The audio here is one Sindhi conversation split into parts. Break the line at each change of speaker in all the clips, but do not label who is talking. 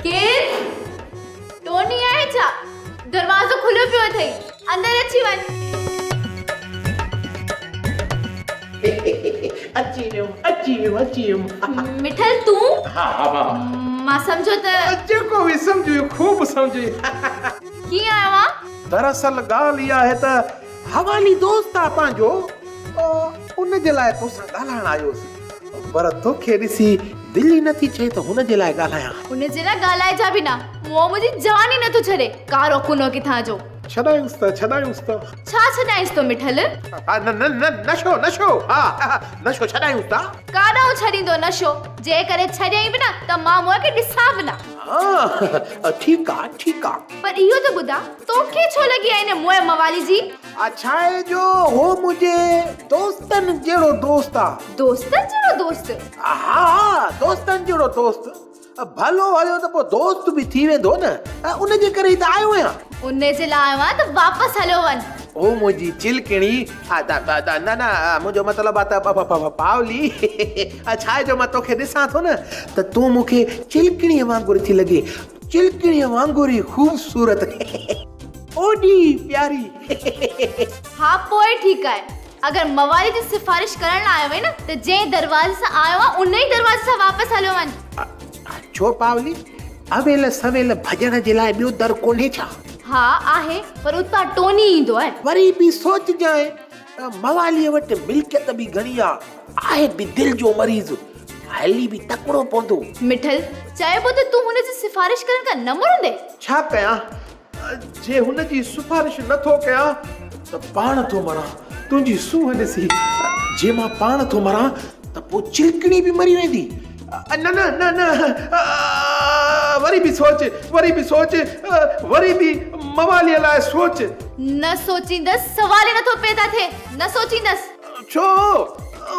ڪير؟ ٽوني آهي ڇا؟ دروازو کليو پيو اٿئي، اندر اچي وڃ. اچي ويم،
اچي ويم، اچي ويم. مٺل تون؟ ها ها
مان.
مان
سمجهيو ته. جيڪو به سمجهيو
خوب سمجهيو. ڪيئن
آهيو اوهان؟ دراصل ڳالهه
اها آهي ته حوالي دوست آهي پنهنجو ان جي لاء توسان ڳالهائڻ آيو هوس. پر توکي ڏسي دل ئي نٿي چئي ته هن جي لاء ڳالهايان. هن جي لاء ڳالهائجان
به نه. مون منهنجي جان ئي نٿو ڇڏي. ڪارو ڪنو ڪٿان جو. ڇڏايونس ته ڇڏايونس
ته. ڇا
ڇڏايونس ته مٺل. ها نه نه نه نشو
نشو. ها ها نشو ڇڏايونس ته. ڪاڏانهن ڇڏيندو
نشو. جي ڪڏهن ڇڏيائين به نه ته مان منهن کي ڏسان به نه. ها ها
ٺيڪ آ ٺيڪ آ. پر اهو ته ٻڌاء
توکي ڇو لڳي آ ان موئي موالي جي. آ ڇاهي جو
هو منهنجي دوستن جهڙو دوست آ. دوستن جهڙو دوست؟
ها ها
دوستن جهڙو دوست. ڀلو هليو ته پوء دوست به ٿي ويندو نه. ان جي ڪري ئي ته آيو آهيان. ان جي لاء آيو
آهيان ته واپس هليو وڃ. او منهنجي
چلڪڻي. نه نه منهنجو مطلب آ ته پاولي. ڇاهي جو مان توکي ڏسان ٿو نه ته تون مونکي چلڪڻي وانگر ٿي لڳين. چلڪڻيء وانگر ئي خوبصورت. اوڏي ئي پياري.
ها پوء ٺيڪ آهي. اگر موالي جي سفارش ڪرڻ لاء آيو آهين نه ته جنهن دروازي سان آيو آهين ان ئي دروازي سان واپس هليو وڃ. ڇو
پاولي؟ اويل سويل ڀڄڻ جي لاء ٻيو در ڪونهي ڇا؟ ها آهي
پر اتان ٽوني ايندو آهي. وري به سوچجانء.
مواليء وٽ ملڪيت به گهڻي آ. آهي به دل جو مريض، هلي به تڪڙو پوندو. مٺل،
چئبو ته تون هن جي سفارش ڪرڻ کان نه مڙندين؟ ڇا ڪيان؟
جي هن جي سفارش نه ٿو ڪيان ته پاڻ ٿو مران. تنهنجي سونهن ڏسي جي مان پاڻ ٿو مران. ته پوء چلڪڻي به مري ويندي. نه نه نه نه وري به سوچ وري به سوچ وري به مواليء لاء سوچ. نه
سوچيندس سوال ئي نٿو پيدا ٿئي نه سوچيندس. ڇو؟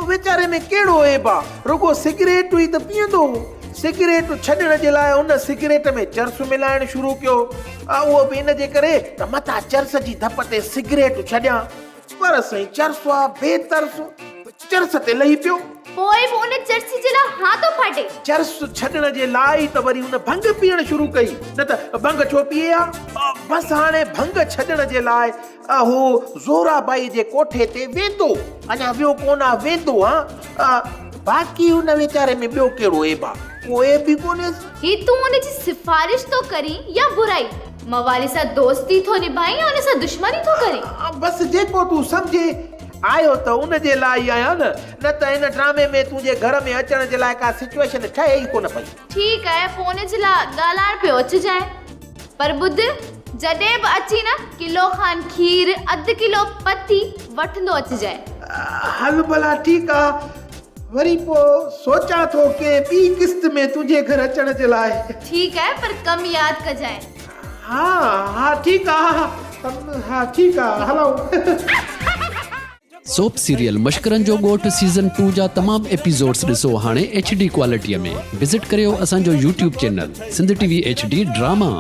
ويچاري ۾ ڪهڙو عيب آ رڳو سگريٽون ئي ته پيئندو هو. سگريٽ ڇڏڻ جي لاء ان سگريٽ ۾ چرس ملائڻ شروع ڪيو. اهو به ان جي ڪري ته متان چرس جي ڌپ تي سگريٽ ڇڏيان. پر سائين چرسو آ بي ترسو چرس تي لهي پيو. پوء به ان
چرسي جي لاء ها ٿو ڦاٽي. چرس ڇڏڻ
جي لاء ئي ته وري هن ڀنگ پيئڻ شروع ڪئي نه ته ڀنگ ڇو پيئي ها. بس هاڻي ڀنگ ڇڏڻ جي لاء هو زورا بائي جي ڪوٺي تي ويندو اڃا ويو ڪونه آ ويندو ها باقي هن ويچاري ۾ ٻيو ڪهڙو عيب آ ڪو عيب ئي ڪونهيس. هي تون ان جي
سفارش ٿو ڪرين يا برائي. موالي سان دوستي ٿو نڀائين يا ان سان دشمني ٿو ڪرين؟ بس جيڪو
تون سمجهي آيو ته ان جي لاء ئي آهيان نه، نه ته هن ڊرامي ۾ تنهنجي گهر ۾ اچڻ جي لاء ڪا سچوئيشن ٺهي ئي ڪونه پئي. ٺيڪ آهي فون
جي لاء ڳالهائڻ پيو اچجانء پر ٻڌ جڏهن به اچين نه ڪلو کان کير، اڌ ڪلو پتي وٺندو اچجانء. هل
ڀلا ٺيڪ آ. وري پوء سوچان ٿو ڪنهن ٻي قسط ۾ تنهنجي گهر اچڻ جي لاء. ٺيڪ آهي پر
ڪم ياد ڪجانء. ها
ها ٺيڪ آ ها ٺيڪ آ هلائون.
سوپ سيريل مشڪرن جو ڳوٺ سيزن ٽو جا تمام ايپيسوڊس ڏسو هاڻي ايڇ ڊي ڪوالٽيء ۾ وزٽ ڪريو اسان جو YouTube channel Sindh T V H D drama.